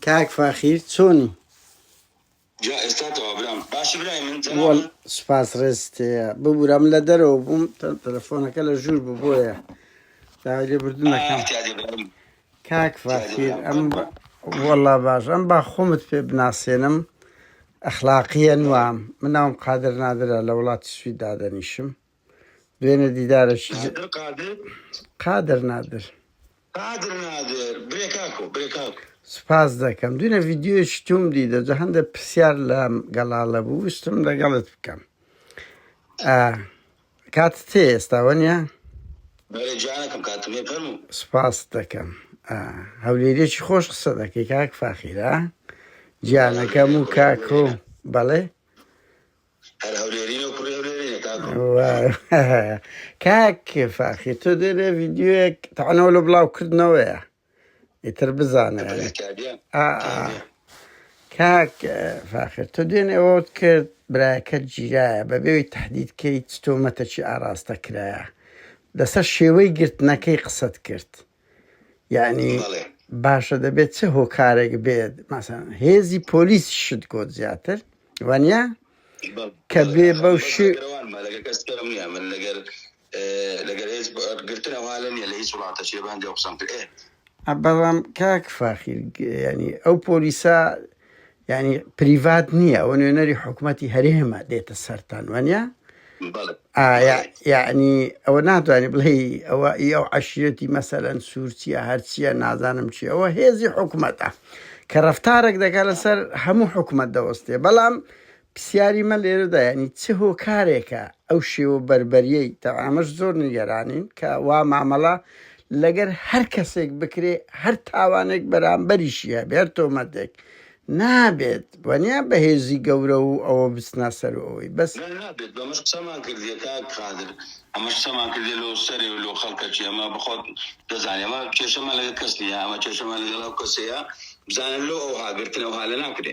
کاک فاخیر چۆنی سپاس ڕێستێ ببوورم لە دەرەوە بووم تەلەفۆنەکە لە ژوور بوو بۆیە داگە بردنەکەم کاک ڤاخیر ئەم وەڵا باش ئەم با خۆمت پێ بناسێنم ئەخلاقیە نوام من ناوم قادر نادرە لە وڵاتی سوید دادەنیشم دوێنێ دیدارەکی ج- قادر قادر قادر نادر قادر نادر برێ کاکۆ برێ کاکۆ سپاس دەکەم دوێنێ ڤیددیویش توم دیدە جە هەندە پرسیار لە گەڵاڵە بوو ویستم لەگەڵت بکەم ئا، کاتت هەیە ئێستا وەنیە؟ بەرێ جانەکەم کاتم هەیە فەرموو. سپاست دەکەم ئا هەولێریەکی خۆش قسە دەکەی کاک فاخیرا جیانەکەم و کاکۆ بەڵێ هەر هەولێرینە و کوڕی هەولێرینە کاکۆ کاک فاخیر تۆ دێرێ ڤیدیوێک تەعنەوە لە بڵاو کردنەوەیە ئیتر بزانە کاک فاخر تۆ دوێنێ ئەوەت کرد برایەکە گیرایە بە بێوی تهدید کەی تۆمەتەکی ئاراستە کرایە لەسەر شێوەی گرتنەکەی قسەت کرد یعنی باشە دەبێت چه هۆکارێک بێت ماسان هێزی پۆلیس شت گۆت زیاتر وانە کە بێ بەو شێ بەڵام کاک فاخیر یانی ئەو پۆلیسە یانی پریڤات نییە ئەوە نوێنەری حکوومەتتی هەرێمە دێتە سەران وانە ئایا یعنی ئەوە ناتوانانی بڵێ ئەوە ئی ئەو عشرەتی مەسەرەن سوورچیە هەرچیە نازانم چی ئەوە هێزی حکوومەتە کە ڕفتارێک دەکات لەسەر هەموو حکوومەت دەوەستێ بەڵام پرسیاری من لێرەدا یانی چ هۆکارێکە ئەو شێوە بەربەریەی تەوە ئەمەش زۆر نیگەرانین کە وا مامەڵە لەگەر هەر کەسێک بکرێ هەر تاوانێک بەرامبەریشی هەبێ هەر تۆمەتێک نابێت وەنیا بەهێزی گەورە و ئەوە بچنە سەر و ئەوەی بەس. نا نابێت بەمەش قسەمان کردیە کاک قادر ئەمەش قسەمان کردیە لۆ سەرێ و لۆ خەڵکەچی ئەمە بەخۆت دەزانی ئەمە کێشەمان لەگەر کەس نیە ئەمە کێشەمان لەگەڵ ئەو کەسەیە بزانە لۆ ئەوها گرتن ئەوها لە ناکرێ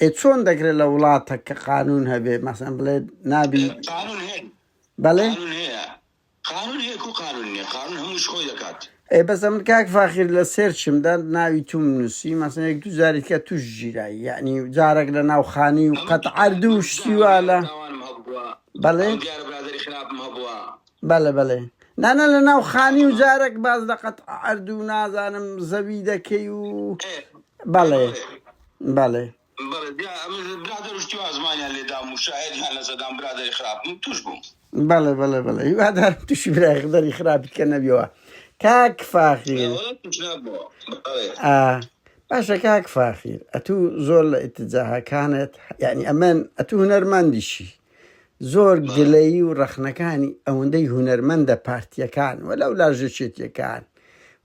ئێ چۆن دەکرێت لە وڵاتەک کە قانون هەبێ مەسەن بڵێ نابی بەڵێ ئێ بەس ئەمن کاک فاخیر لە سێرچمدا ناوی توم نووسی مەسن یەک دو جاری کە توش ژیرایی یعنی جارێک لە ناو خانی و قەت عردو شتیوا لە بەڵێ بەلێ بەلێ نانا لە ناو خانی و جارەک باس لە قەت عەرد و نازانم زەوی دەکەی و بەڵێ بەڵێ بەڵێ بەڵێ بەڵێ هیوادارم تووشی برای خدەری خراپی کە نەبیەوە کاک فاخیر باشە کاک فاخیر ئەتوو زۆر لە ئتجاهەکانت یعنی ئەمن ئەتوو هونەرمەندیشی زۆر گلەیی و ڕەخنەکانی ئەوەندەی هونەرمەندە پارتییەکان و لەولا ژێچێتیەکان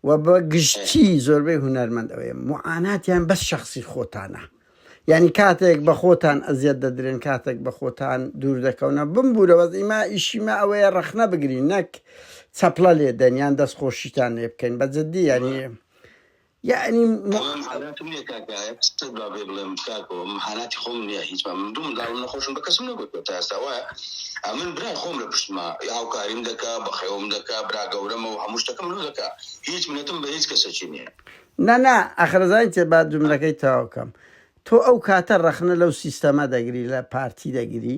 و بە گشتی زۆربەی هونەرمەند ئەوەیە معاناتیان بەس شخصی خۆتانە یعنی کاتێک بە خۆتان ئەزیەت دەدرێن کاتێک بە خۆتان دوور دەکەونە بمبوورەوە ئیما ئیشیمە ئەوەیە ڕەخنە بگرین نەک چەپڵە لێدەن یان دەستخۆشیتان لێ بکەین بە جددی یعنی یەعنی مو بەڵام حالاتی منە کاک ئایە قسەت با بێ بڵێم کاکۆ من حالاتی خۆم نییە هیچ من دوو منداڵم نەخۆشم بە کەسم نەگوتوە تا ئێستا وایە ئە من برای خۆم لە پشتما هاوکاریم دەکا بەخێوم دەکا برا گەورەمە و هەموو شتەکەم لۆ دەکا هیچ منەتم بە هیچ کەسەکی نییە نا نا ئەخرە زانین تێ با جملەکەی تەواو کەم تۆ ئەو کاتە ڕەخنە لەو سیستەمە دەگری لە پارتی دەگری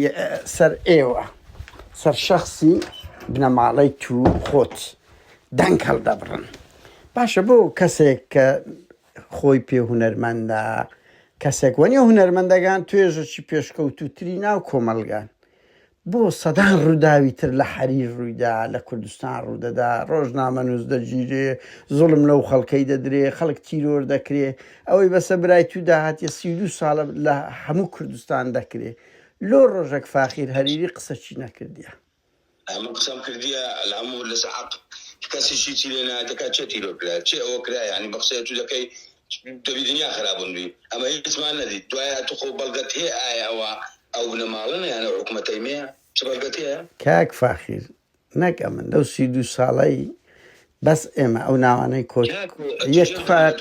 ی سەر ئێوە سەر شەخسی بنەماڵەی تو خۆت دەنگ هەڵدەبڕن باشە بۆ کەسێک کە خۆی پێ هونەرمەندە کەسێک وەنی هونەرمەندەگان توێژەکی پێشکەوتوتری ناو کۆمەلگان بۆ سەدان ڕووداوی تر لە حەریر ڕوویدا لە کوردستان ڕوودەدا ڕۆژنامەنووس دەگیرێ زوڵم لەو خەڵکەی دەدرێ خەڵک تیرۆر دەکرێ ئەوەی بەسە برای تو داهاتیە سی و دوو سالە لە هەموو کوردستان دەکرێ لۆ رۆژەک فاخیر هەریری قسەچی نەکردیە. من قسەم کردیە الامور لەسە حەق کەسی چی چی لێ نایەت دەکات چێ تیرۆر کرایە چێ ئەوە کرایە یانی بە قسەی ئەتو دەکەی دەبی دنیا خرابون بی ئەمە هیچمان نەدیت دوایە ئەتو خۆ بەلگەت هەیە ئایە ئەوە ئەو بنەمالەنە یان ئەو حکومەتەی مەیە چ بەلگەت هەیە. کاک فاخیر نەک ئەمن لەو سی و دوو ساڵەی بەس ئێمە ئەو ناوانەی کۆچ یەک تفاق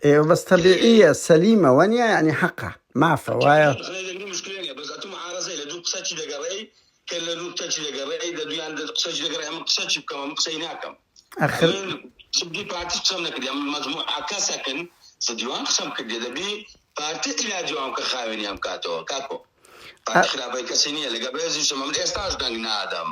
ئێوە بەس تەبیعیە سەلیمە وەنیە ینی حەقە مافە وایە ئەخر قەت خراپی کەسی نییە لەگە بەێزیشم من ئێستاش دەنگ نادەم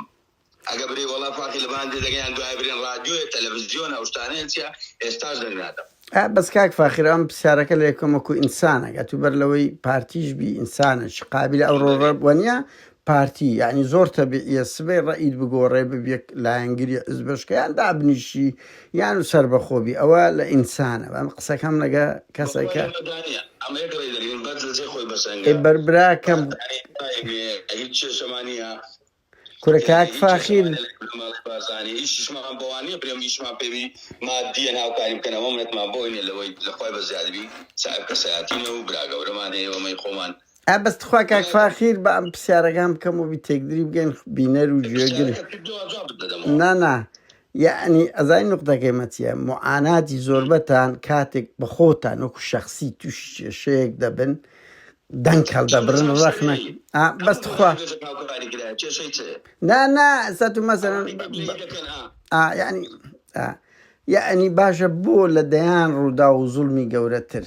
ئەگە برێ وەڵا فاقی لە باندێ دەگەیان دوای برێن ڕادیۆیە تەلەڤزیۆن ئەوشتانەیە چیە ئێستاش دەنگ نادەم بەس کاک فاخرام پرسیارەکە لە یەکەمەکو ئینسانەگە تو بەر لەوەی پارتیش بی ئینسانش قابل ئەو ڕۆڕە وەنیە پارتی یعنی زۆر تەبیعە سبەی ڕئید بگۆڕێ ببیەک لایەنگری ئز بەشکیان دابنیشی یان و سەربەخۆ بی ئەوە لە ئینسانە بەم قسەکەم لەگە کەسەکە ئێ بەر براکەم کورە کاک فاخیر ئا بەس تخوا کاک فاخیر بە ئەم پرسیارەکان بکەم و بی تێکدری بگەن بینەر و گوێگر نا نا یەعنی ئەزانی نوقتەکەی مە چیە موعاناتی زۆربەتان کاتێک بە خۆتان وەکو شەخسی تووشی کێشەیەک دەبن دەنگ هەڵدەبرن ڕەخنە ئا بەس تخوا کێشە هاوکاری کرا کێشەی چ نا نا ئەستا تو مەسەن ئەوانەی بە گلەیی دەکەن ئا ئا یعنی ئا یعنی باشە بۆ لە دەیان ڕوودا و زوڵمی گەورەتر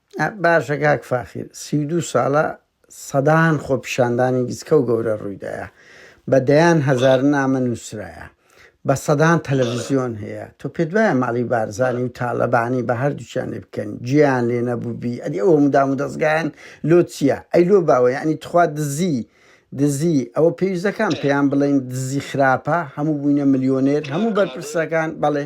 باشە کاک فاخیر سی و دوو ساڵە سەدان خۆپیشاندانی گچکە و گەورە ڕوویدایە بە دەیان هەزار نامە نووسرایە بە سەدان تەلەڤزیۆن هەیە تۆ پێت وایە ماڵی بارزانی و تاالەبانی بە هەردووچیان لێ بکەن جیان لێ نەبووبی ئەدی ئەوە مدام و دەستگایان لۆ چییە ئەی لۆ باوە یعنی تخوا دزی دزی ئەوە پێویستەکان پێیان بڵین دزی خراپە هەموو بووینە ملیۆنێر هەموو بەرپرسەکان بەڵێ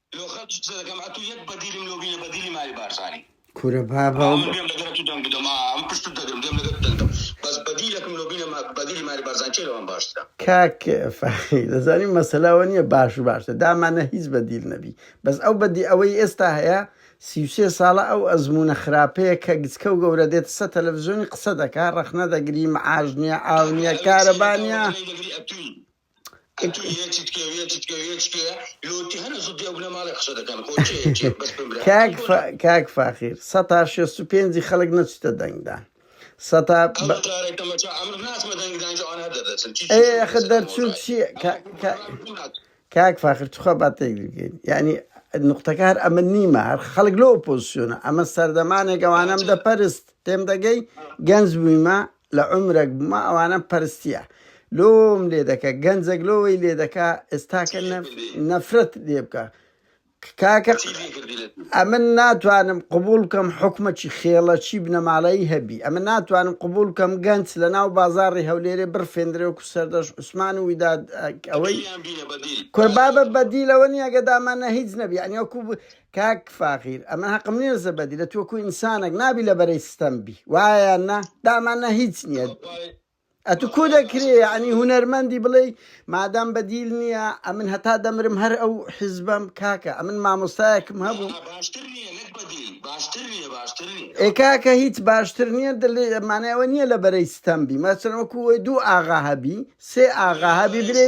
لۆ خەلکی قسە دەکەم ئەتو یەک بەدیلم لۆ بینە بەدیلی مالی بارزانی. کورە بابە ئا ئەو من بێم لەگەر ئەتو دەنگ بدەم ئا من پشتت دەگرم بێم لەگەر تو دەنگ دەم بەس بەدیلەکم لۆ بینە ما بەدیلی مالی بارزان کێ لەوان باشترە. کاک فەخری دەزانی مەسەلە ئەوە نیە باش و باشتر دامانە هیچ بەدیل نەبی بەس ئەو بەدی ئەوەی ئێستا هەیە سی و سێ ساڵە ئەو ئەزمونە خراپەیە کە گچکە و گەورە دێتە سە تەلەفزیۆنی قسە دەکا ڕەخنە دەگری معاش نیە ئاو نیە کارەبا نیە. کاک فاخیر سەتا شێست و پێنجی خەڵک نەچتە دەنگدان سەتا خە دەرچوو چی کاک فاخر توخوا باتێک بگەین یعنی نقطەکار ئەمە نیمە هەر خەڵک لۆ پۆزیسیۆنە ئەمە سەردەمانێک ئەوانم دەپەرست تێم دەگەی گەنج بوویمە لە عومرەک بما ئەوانەم پەرستیە لۆم لێ دەکە گەنجەک لۆی لێ دەکا ئێستاکە نەفرەت لێ بکە کاکە ئەمن ناتوانم قبول بکەم حکومەکی خێڵەکی بنەماڵەی هەبی ئەمە ناتوانم قبول بکەم گەنج لە ناو بازاری هەولێرێ بڕفێندرێ و سەردەش عوسمان و ویداد ئەوەی کوربابە بەدیلەوە نیە گەدامانە هیچ نەبی ئەنیوەکو کاک فاخیر ئەمە هەقم نیە زەبەدی لە توەکو ئینسانەک نابی لە بەرەی ستەم بی وایە نە دامان نە هیچ نییە ئەتو کو دەکرێ ینی هوەرمەندی بڵێ مادام بەدیل نییە ئەمن هەتا دەمرم هەر ئەو حیزبم کاکە ئەمن مامۆستایەکم هەبوو ئێکاکە هیچ باشتر نییە دەمانەوە نییە لە بەرەی ستەمبی مەسەرەکوی دوو ئاغا هەبی سێ ئاغا هەبی برێ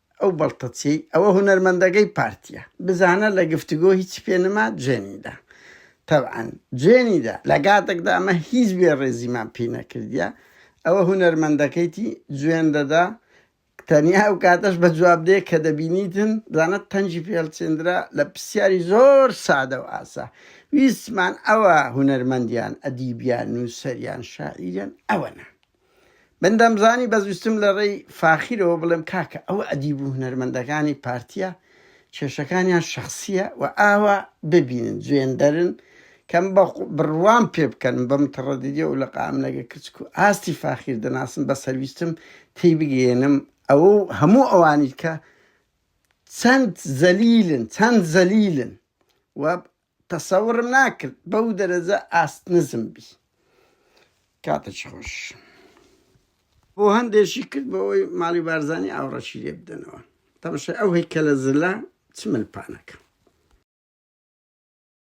ئەو بەڵتەچیەی ئەوە هونەرمەندەگەی پارتیە بزانە لە گفتگۆ هیچی پێ نما جوێنیدا تەبعەن جوێنیدا لە گاتەکدا ئەمە هیچ بێ ڕێزیمان پی نەکردیە ئەوە هونەرمەندەکەیتی جوێن دەدا تەنیا ئەو کاتەش بە جواب دێ کە دەبینیتن بزانە تەنجی پێڵچێندرا لە پرسیاری زۆر سادە و ئاسا ویستمان ئەوە هونەرمەندیان ئەدیبیان نووسەریان شاعیریان ئەوەنە من دەمزانی بەزویستم لە ڕێی فاخیرەوە بڵێم کاکە ئەوە ئەدیب و هونەرمەندەکانی پارتیە کێشەکانیان شەخسیە و ئاوا ببینن جوێندەرن کەم بە بڕوام پێ بکەن بەم تڕەدیدی و لە قاملەگە کچک و ئاستی فاخیر دەناسم بە سەرویستم تێی بگەێنم ئەوە هەموو ئەوانیت کە چەند زەلیلن چەند زەلیلن و تەسەورم ناکرد بەو دەرەجە ئاست نزم بی کاتەکی خۆش. بۆ هەندێکی کرد بۆ ئەوەی ماڵی بارزانی ئاوڕەشی لێ بدەنەوە تەمەشای ئەو هەیکەلە زلە چ ملپانەکە.